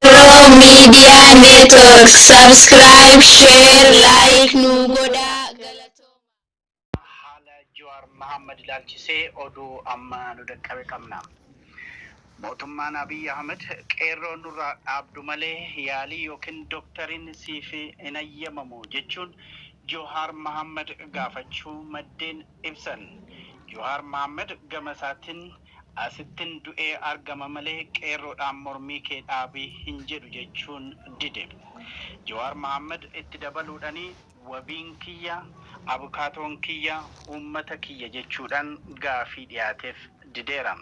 Pro Media Network subscribe, share, like nu godhaa. Galatoomaa. haala Jawaar Mahammad ilaalchisee oduu amma nu dhaqqabe qabna. Mootummaan Abiy Ahmed qeerroo nurraa dhaabdu malee yaalii ykn doktariin siif hin hayyamamu jechuun Johaar Mahaammad gaafachuu maddeen ibsan. Johaar Mahaammad gama isaatin asittin du'ee argama malee qeerroodhaan mormii kee dhaabi hin jedhu jechuun dide. Johaar Mahaammad itti dabaluudhani. wabiin kiyya, abukaatoon kiyya, uummata kiyya jechuudhaan gaaffii dhiyaateef dideera.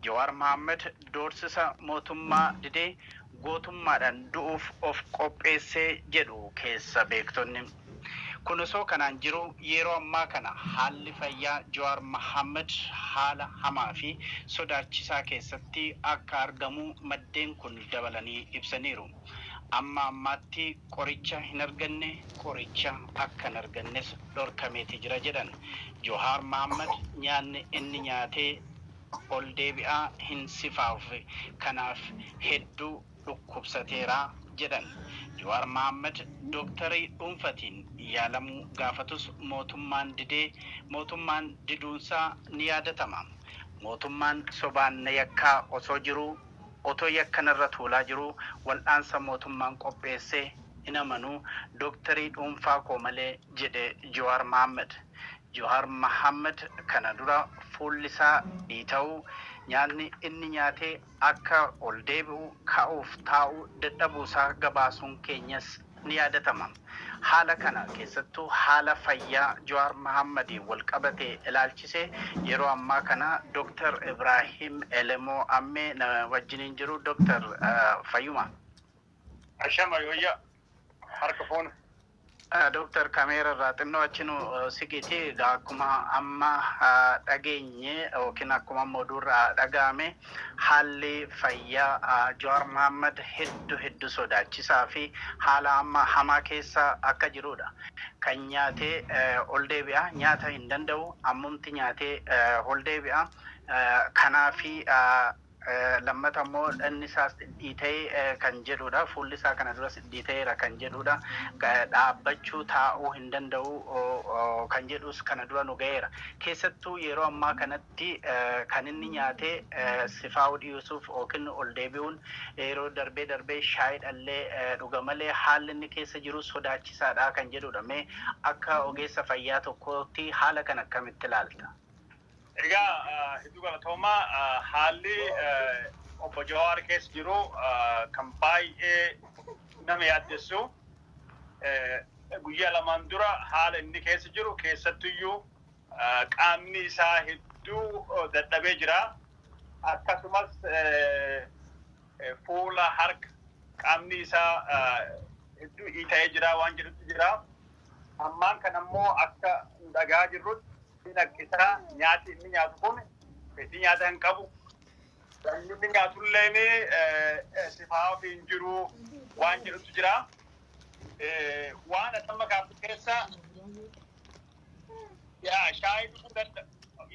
Jawaar Mahaammad doorsisa mootummaa didee gootummaadhaan du'uuf of qopheesse jedhu keessa beektonni. Kun osoo kanaan jiruu yeroo ammaa kana haalli fayyaa Jawaar Mahaammad haala hamaa fi sodaachisaa keessatti akka argamu maddeen kun dabalanii ibsaniiru. Amma ammaatti qoricha hin arganne, qoricha akka hin argannes dhorkameeti jira jedhan. Johaar Mahaammad nyaanni inni nyaatee ol deebi'aa hin sifaafne kanaaf hedduu dhukkubsateera jedhan. Jowaar Mahaammad dooktarii dhuunfatiin yaalamuu gaafatus mootummaan didee mootummaan diduunsaa ni yaadatama. Mootummaan sobaan na yakkaa osoo jiruu Otoo yakka narra tuulaa jiruu wal'aansa mootummaan qopheesse hin amanu, doktarii dhuunfaa koo malee jedhe Jowaar Mahaammad. Jowaar Mahaammad kana dura fuullisaa dhiita'uu, nyaatni inni nyaate akka ol deebi'u, ka'uuf taa'uu dadhabuusaa gabaasuun keenyas ni yaadatama. Haala kana keessattuu haala fayyaa Jawaar Mahaammadiin wal qabate ilaalchisee yeroo ammaa kana Dr. Ibraahim Elemoo Ammee na wajjiniin jiru. Dr. fayyuma? Ashama yooyyaa harka fuuna. Dr. Kameera irraa xinnoo achi nu siqiti. Egaa akkuma amma dhageenye yookiin akkuma amma oduu irraa dhaga'ame Haalli fayyaa Jawaar Mahaammad heddu heddu sodaachisaa fi haala amma hamaa keessa akka jiruudha. Kan nyaatee ol deebi'a, nyaata hin danda'u, ammumti nyaatee ol deebi'a. Kanaafi lammata immoo dhanni isaas dhidhiita'e kan jedhuudha. Fuulli isaa kana duras dhidhiita'eera kan jedhuudha. Dhaabbachuu, taa'uu hin danda'u kan jedhus kana dura nu gaheera. Keessattuu yeroo ammaa kanatti. Tti kan inni nyaate sifaa'uu dhiusuuf ykn ol deebi'uun yeroo darbee darbee shaayiidha illee dhuga malee haalli inni keessa jiru sodaachisaadha kan jedhuudha. Mee akka ogeessa fayyaa tokkootti haala kana akkamitti ilaalta? Egaa hedduu galatooma. Haalli obbo Jawaar keessa jiru kan baay'ee nama yaaddessu. Guyyaa lamaan dura haala inni keessa jiru keessattuyyuu Qaamni isaa hedduu dadhabee jira. Akkasumas fuula, harka, qaamni isaa hedduu iita'ee jira waan jedhutu jira. Ammaan kana immoo akka nu dhaga'aa jirrutti inni rakkisaa nyaati inni nyaatu kun fedhii nyaata hin qabu. Wanni inni nyaatulleen sifaa'aa ofii hin jiru waan jedhutu jira. Waan atamma kaaftu keessa yaa shaayii dhuguu danda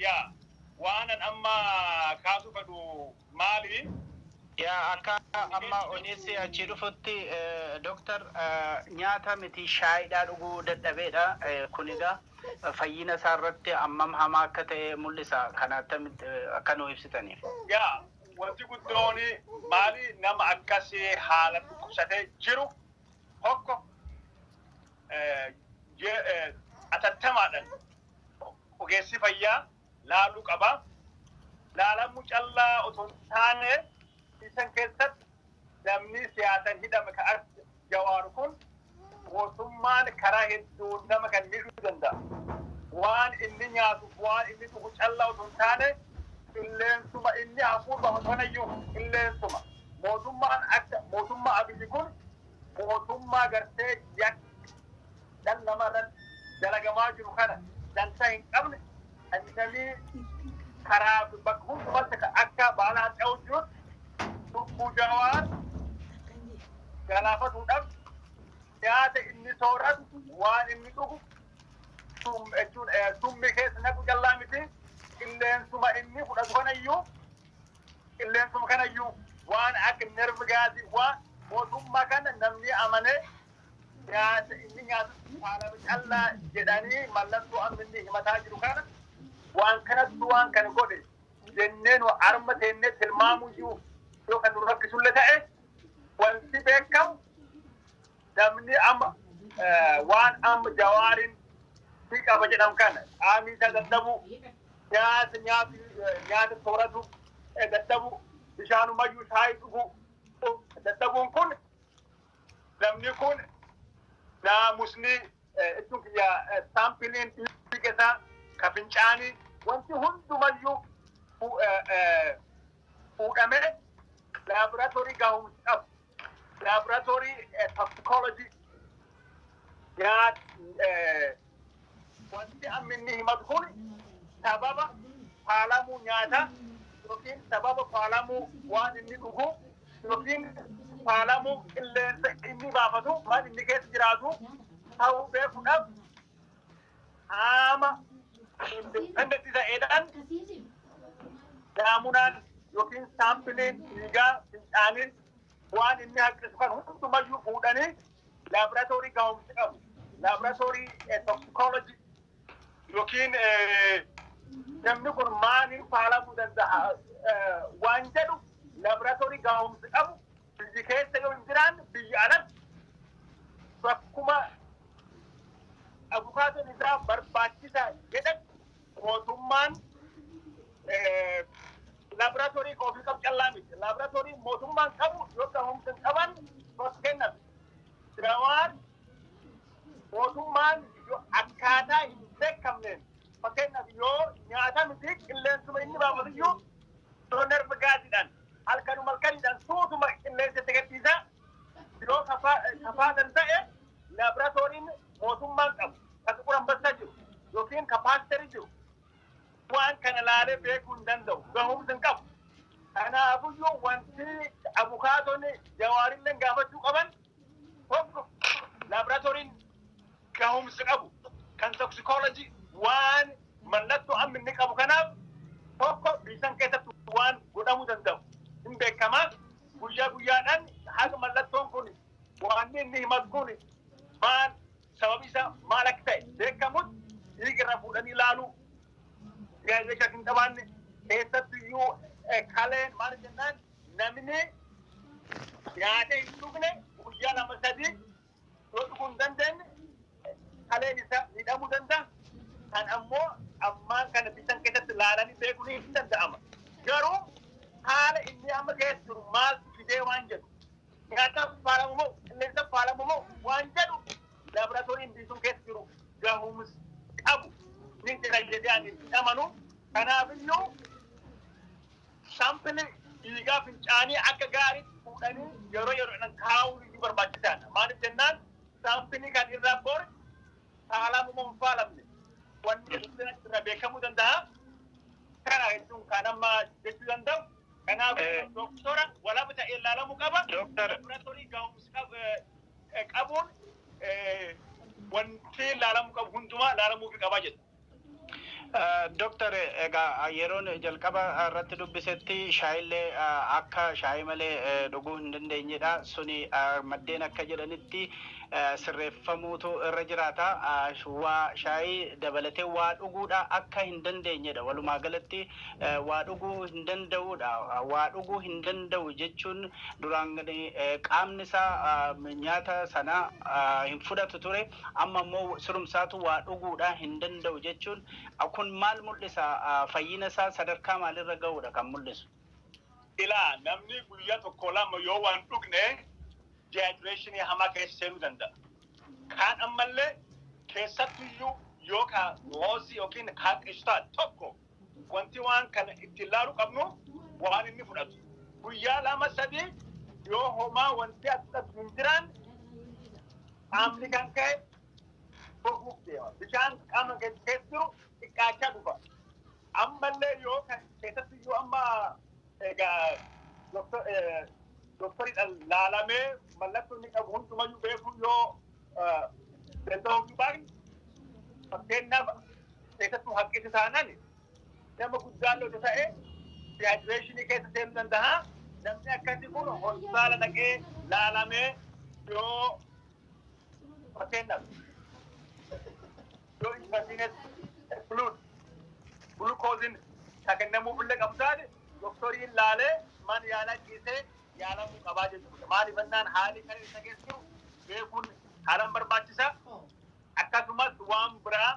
yaa waanan amma kaasuu fedhu maali yaa akka amma odeessi achii dhufutti eh, doktar eh, nyaata miti shaayiidhaa dhuguu dadhabeedha Eh, kun egaa eh, fayyina isaa irratti hammam hamaa akka ta'e mul'isa kana attamitti eh, akka nuu ibsitaniif. yaa wanti guddoon maali nama akkasii haala dhukkubsatee jiru tokko atattamaadhan ogeessi fayyaa laaluu qaba. Laalamuu callaa otoo hin taane isan keessatti namni siyaasan hidhame ka akka jawaar kun mootummaan karaa hedduun nama kan miidhuu danda'a. Waan inni nyaatuuf waan inni dhugu callaa otoo hin taane qilleensuma inni hafuurba osoo nayyuu qilleensuma mootummaan akka mootummaa abiyyi kun mootummaa gartee yakka dhala namaa irratti dalagamaa jiru kana dantaa hin qabne kan namii karaa fi bakka hundumatti ka- akka baala harca'uu jirutti lubbuu jawaar galaafatuudhaaf nyaata inni sooratu waan inni dhugu sum- jechuun, eh, summii keessa naqu callaa miti qilleensuma inni fudhatu kanayyuu Qilleensuma kanayyuu waan akka nerve gaasii waa mootummaa kana namni amane nyaata inni nyaatu faalama callaa jedhanii mallattoo amma inni himataa jiru kana waan kanattu waan kana godhe jennee nu arma teennee tilmaamuyyuu yoo kan nu rakkisullee ta'e wanti beekamu namni amma waan amma jawaariin ni qaba jedham kana qaamii isaa dadhabu nyaata nyaatu nyaata sooratu dadhabu bishaanumayyuu shaayii dhugu dadhabuun kun namni kun naamusni jechuun kiyya saampiliin dhiiga isaa ka fincaanii wanti hundumayyuu fuudhamee laaboraatoorii gaahumsi qabu laboratory eh, toxicology nyaat eh, wanti amma inni himatu kun sababa faalamuu nyaata yookiin sababa faalamuu waan inni dhugu yookiin faalamuu qilleensa inni baafatu waan inni keessa jiraatu ta'uu beekuudhaaf qaama independent ta'eedhaan daamunaan yookiin saampiliin dhiigaa fincaaniin waan inni haqqisu kan hundumayyuu fuudhanii laaboraatoorii gahumsa qabu laaboraatoorii toksikolojii yookiin namni kun maaliin faalamuu danda'a waan jedhu laaboraatoorii gahumsa qabu Biyyi keessa yoo hin jiraanne biyya alatti bakkuma abukaatoon isaa barbaachisa jedhetti mootummaan laaboraatoorii kan ofii qabu callaa miti. Laaboraatoorii mootummaan qabu yoo gahumsa hin qaban fakkeenyaaf Jawaar mootummaan yoo akkaataa hin beekamneen fakkeenyaaf yoo nyaata miti qilleensuma inni baafatu iyyuu yoo nerva gaasiidhaan halkanuma halkaniidhaan suutuma qilleensa itti gadhiisa. Yoo kafaalan ta'e laaboraatooriin mootummaan qabu kan Xuqur Ambassaa jiru yookiin kan paasterii jiru waan kana laalee beekuu hin danda'u gahumsa hin qabu. Kanaafuyyuu wanti abukaatonni jawaarillee gaafachuu qaban tokko laaboraatooriin gahumsa qabu kan toksikoolojii waan mallattoo amma inni qabu kanaaf tokko biisan keessatti waan godhamuu danda'u hin beekama guyyaa guyyaadhaan haga mallattoon kun waan inni himatu kun maal sababi isaa maal akka ta'e beekamutti dhiiga irraa fuudhanii ilaaluu yaadachaa hin qabaanne keessattu iyyuu kaleen maal jennaan Namni nyaatee hin dhugne guyyaa lama sadii yoo dhuguu hin dandeenye kaleen isaa miidhamuu danda'a. Kan ammoo ammaan kana bitan keessatti ilaalanii beekuun hin danda'ama. Garuu haala inni amma keessa jiru maaltu fidee waan jedhu nyaataaf faalamu moo qilleensaaf faalamu moo waan jedhu laaboraatooriin biisuun keessa jiru gahumsa qabu ni jira jedhee ani hin amanu. Kanaafiyyuu Saampilii dhiigaa fincaanii akka gaariitti fuudhanii yeroo yeroodhaan kaa'uun iyyuu barbaachisaadha. Maaliif jennaan saampilii kan irraa bor faalamuu moo hin faalamne wanni dhibeen achi irraa beekamuu danda'a. Kana jechuun kan amma jechuu danda'u. Kanaaf Eh. doktora walaba ta'ee ilaalamuu qaba. Doktor. Laboratorii gahumsa qabu- eh, qabuun eh, wanti ilaalamuu qabu hundumaa ilaalamuufi qaba jedha. Doktar egaa yeroon jalqaba irratti dubbisetti shaayillee akka shaayii malee dhuguu hin dandeenyedha. Suni maddeen akka jedhanitti sirreeffamuutu irra jiraata. Waa shaayii dabalatee waa dhuguudha akka hin dandeenyedha. Walumaa galatti waa dhuguu hin danda'uudha. Waa dhuguu hin danda'u jechuun duraan qaamni isaa nyaata sana hin fudhatu ture. Amma immoo sirumsaatu waa dhuguudhaa hin danda'u jechuun kun maal mul'isa? Fayyina isaa sadarkaa maalirra ga'uudha kan mul'isu? Ilaa, namni guyyaa tokko lama yoo waan dhugne dehydration hamaa keessa seenuu danda'a. Kaan ammallee keessattuyyuu yoo ka hoosii yookiin haqishtaa tokko Wanti waan kana itti ilaaluu qabnu waan inni fudhatu. Guyyaa lama sadii yoo homaa wanti as fudhatu hin jiraan qaamni kan ka'e goguuf deema. Bishaan qaama keessa keessa jiru xiqqaachaa dhufa. Ammallee yoo kan keessatti iyyuu amma egaa doktor- eh, doktoriidhaan laalamee mallattoo inni qabu hundumayyuu beekuu yoo danda'amuu baay'ee fakkeenyaaf keessattuu hanqisa taanaan nama guddaa lola ta'e dehaayidireeshinii keessa seenuu danda'a. Namni akkasii kun hospitaala dhaqee laalamee yoo fakkeenyaaf yoo intarviinees fluid gulukooziin kan kennamuuf illee qabu taate doktoriin laalee mana yaalaa ciisee yaalamuu qabaa jechuudha. Maaliif jennaan haalli kan isa keessa jiru beekuun haalan barbaachisa. Akkasumas waan biraa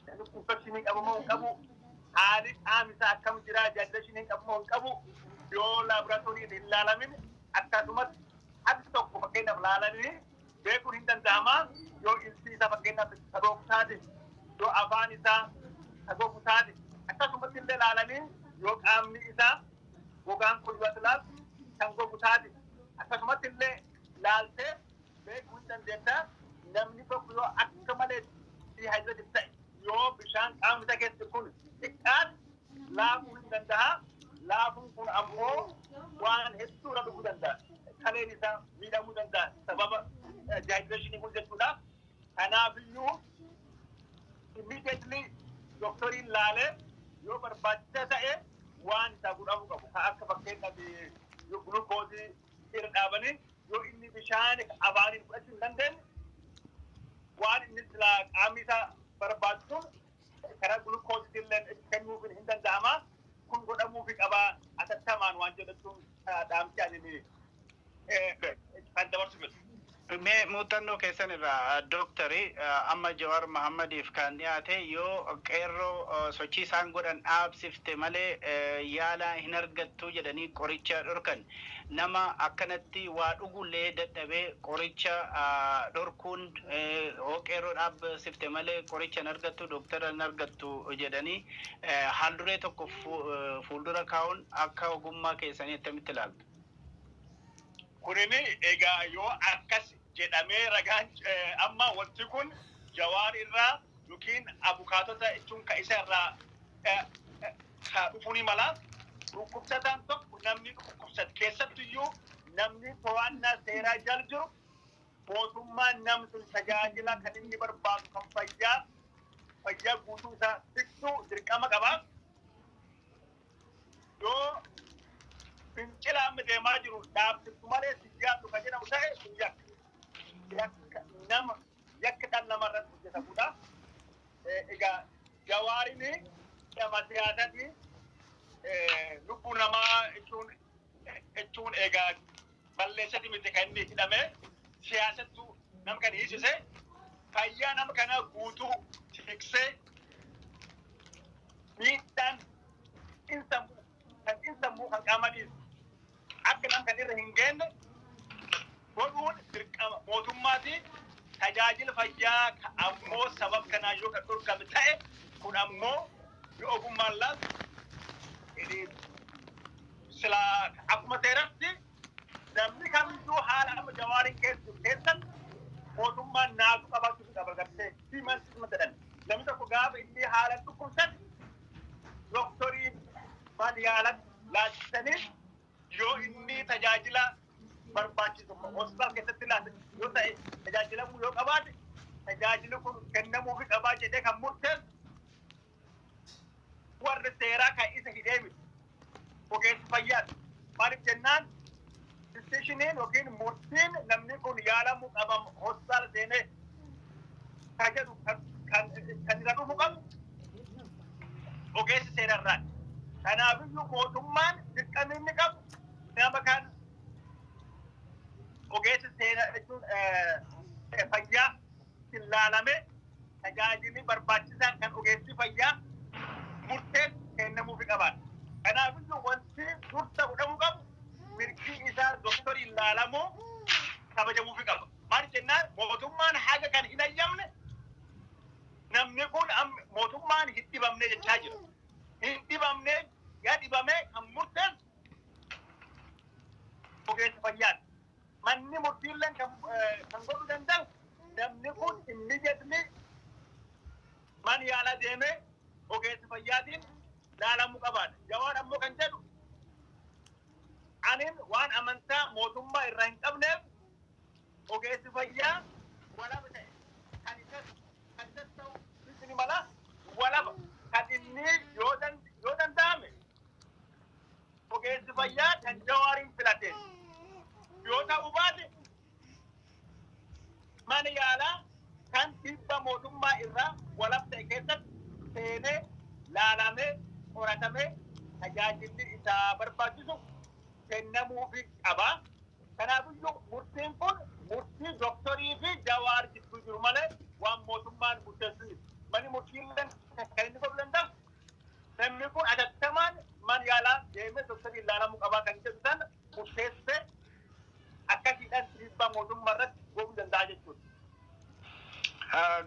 namni infekshinii qabu moo hin qabu haalli qaamni isaa akkam jira jaajilashiniin qabu moo hin qabu yoo laaboraatoorii hin laalamin akkasumas haqi tokko fakkeenyaaf laalanii beekuun hin danda'ama yoo ilsi isaa fakkeenyaaf sagoogu taate yoo afaan isaa sagoogu taate akkasumatti illee laalanii yoo qaamni isaa gogaan kun yoo ati laaltu kan gogu taasisa. Akkasumatti illee laaltee beekuu hin dandeetta. Namni tokko yoo akka malee diihaayidireetif ta'e yoo bishaan qaamni isaa keessatti kun xiqqaate laafuu hin danda'a. Laafuun kun ammoo waan hedduu irra dhufuu danda'a. Kaleen isaa miidhamuu danda'a sababa diihaayidireeshinii kun jechuudha. Kanaafiyyuu immediately doktoriin laalee yoo barbaachisaa ta'e wanta godhamu qabu kan akka fakkeenyaaf yoo gulukoosii irra dhaabanii yoo inni bishaan afaaniin fudhachuu hin dandeenye waan inni silaa qaamni isaa barbaadu sun Karaa gulukoositilleen itti kennuufiin hin danda'ama. Kun godhamuufi qaba atattamaan waan jedhachuun dhaamsi ani kan dabarsu jedhu. Mee muuxannoo keessan irraa Dooktari amma Jawaar Mahaammadiif kan dhiyaate yoo qeerroo sochii isaan godhan dhaabsifte malee yaala hin argattu jedhanii qoricha dhorkan. nama akkanatti waa dhugullee dadhabee qoricha dhorkuun hoo qeerroo dhaabsifte malee qoricha hin argattu dooktara hin argattu jedhanii haalduree tokko fuuldura kaa'uun akka ogummaa keessanii attamitti ilaaltu? Kunini egaa yoo akkas jedhamee ragaan amma wanti kun Jawaar irraa yookiin abukaatota jechuun ka isa irraa isaa dhufuu ni mala. Dhukkubsataan tokko namni dhukkubsate keessattuyyuu namni to'annaa seeraa jala jiru mootummaan nam sun tajaajila kan inni barbaadu kan fayyaa fayyaa guutuu isaa fixuu dirqama qaba. Yoo fincila amma deemaa jiru dhaabsiftu malee si jaallu kan jedhamu ta'e sun yakka. Yakka nama yakki dhan nama irratti hojjetamudha. Egaa jawaarini nama siyaasati lubbuu namaa jechuun jechuun egaa balleessati miti kan inni hidhame siyaasattu nama kan hiisise fayyaa nama kana guutuu tiksee miidhaan insammuu kan insammuu kan qaamaniis Akka isaan kan irra hin geenne godhuun dirqama mootummaati. Tajaajila fayyaa ka ammoo sabab kanaan yoo kan dhorkame ta'e kun ammoo yoo ogummaan laatu inni sila akkuma seeratti namni kamiyyuu haala amma jawaariin keessa jiru keessatti mootummaan naatu qabaachuu fi qaba gartee human treatment jedhan namni tokko gaafa inni haalan dhukkubsate doktoriin maal yaalan laachistaniif yoo inni tajaajila barbaachisu hospitaal keessatti laatan yoo ta'e tajaajilamuu yoo qabaate tajaajili kun kennamuu fi qabaa jedhee kan murteessu warri seeraa kan isa hidhee miti ogeessi fayyaati. Maaliif jennaan Disishiniin yookiin murtiin namni kun yaalamu qabam hospitaala seenee ka jedhu kan kan irra dhufu qabu ogeessi seera irraati. Kanaafiyyuu mootummaan dirqamni inni qabu nama kan ogeessi seera jechuun fayyaa ittiin laalame tajaajilli barbaachisaan kan ogeessi fayyaa murteen kennamuufi qabaata. Kanaafiyyuu wanti dursa godhamuu qabu mirgi isaa doktoriin laalamuu kabajamuufi qaba. Maal jennaan mootummaan haga kan hin hayyamne namni kun mootummaan hin dhibamne jechaa jira. Hin dhibamne yaa dhibamee kan murteessu ogeessa fayyaati. Manni murtiilleen kan kan godhuu danda'u namni kun immediately mana yaalaa deemee ogeessa fayyaatiin laalamuu qabaadha. Jawaar ammoo kan jedhu anin waan amantaa mootummaa irraa hin qabneef ogeessi fayyaa walaba ta'e kan isas kan isas ta'u ni mala walaba kan inni yoo dan- yoo danda'ame Ogeessi fayyaa kan Jawaariin filate yoo ta'u baate mana yaalaa kan tibba mootummaa irraa walab ta'e keessatti seenee laalamee qoratamee tajaajilli isaa barbaachisu kennamuufi qaba. Kanaafiyyuu murtiin kun murtii doktorii fi Jawaar gidduu jiru malee waan mootummaan murteessu miti. Manni murtiilleen kan inni godhu danda'u Namni kun atattamaan man yaalaa deemee doktariin ilaalamuu qabaa kan jedhu sana murteessee akkasiidhaan dhiibbaa mootummaa irratti godhuu danda'a jechuudha.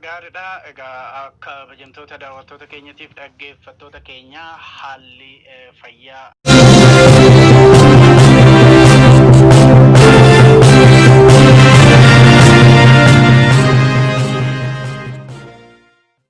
Gaariidha. Egaa kabajamtoota daawwattoota keenyatiif dhaggeeffattoota keenya haalli fayyaa